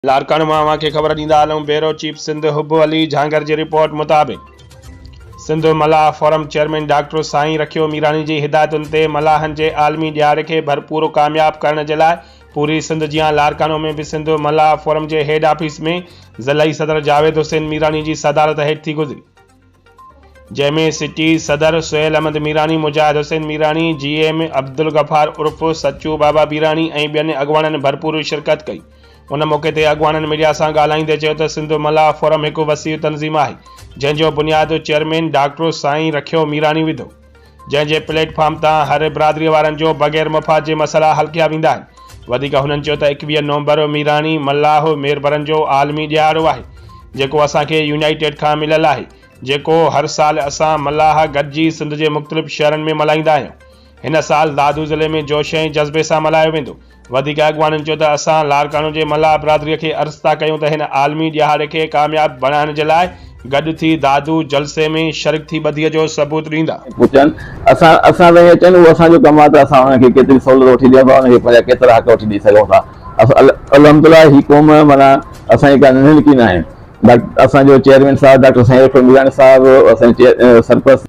لاڙڪاڻي مان اوهان کي خبر ڏيندا هلون بيورو چيف سنڌ حب علي جهانگر جي رپورٽ مطابق Sindh Mallah forum chairman doctor سائين رکيو ميراڻي جي هدايتن تي ملاحن جي عالمي ڏيهاڙي کي ڀرپور ڪامياب ڪرڻ جي لاء پوري سنڌ جيان لاڙڪاڻو ۾ به سنڌ ملاح فورم جي هيڊ آفيس ۾ ضلعي صدر جاويد حسين ميراڻي جي صدارت هيٺ ٿي گذري جنهن ۾ سٽي صدر سهيل احمد ميراڻي، مجاهد حسين ميراڻي، جي ايم عبدالغفار عرف سچو بابا ميراڻي ۽ ٻين اڳواڻن ڀرپور شرڪت ڪئي. ان موقعي تي اڳواڻن ميڊيا سان ڳالهائيندي چيو ته سنڌ ملاح فورم هڪ وسيع تنظيم آهي، جنهن جو بنياد چيئرمين ڊاڪٽر سائين رکيو ميراڻي وڌو. جنهن جي پليٽ فارم تان هر برادري وارن جو بغير مفاد جي مسئلا حل ڪيا ويندا آهن. وڌيڪ هنن چيو ته ايڪويهه نومبر ميراڻي، ملاح، ميربرن جو عالمي ڏهاڙو آهي، جيڪو اسان کي يونائيٽيڊ کان مليل آهي، جيڪو هر سال اسان ملاح گڏجي سنڌ جي مختلف شهرن ۾ ملهائيندا آهيون. هن سال دادو ضلعي ۾ جوش ۽ جذبي سان ملهايو ويندو. وڌيڪ اڳواڻن چيو ته اسان لاڙڪاڻو جي ملاح برادري کي عرض ٿا ڪيون ته هن عالمي ڏهاڙي کي ڪامياب بڻائڻ جي لاء گڏ ٿي دادو جلسي ۾ شرڪ ٿي ٻڌي جو ثبوت ڏيندا. پڇن اسان اسان تائين اچن اهو اسان جو ڪم آهي ته اسان انهن کي ڪيتري سهولت وٺي ڏيون ٿا انهن کي پنهنجا ڪيترا حق وٺي ڏئي سگهون ٿا الحمدالله هي قوم معنيٰ اسان جي ڪا ننڍي نڪي ناهي ڊاڪٽر اسان جو چيئرمين صاحب ڊاڪٽر سائين رفيع ميراڻي صاحب اسان جي سرپرست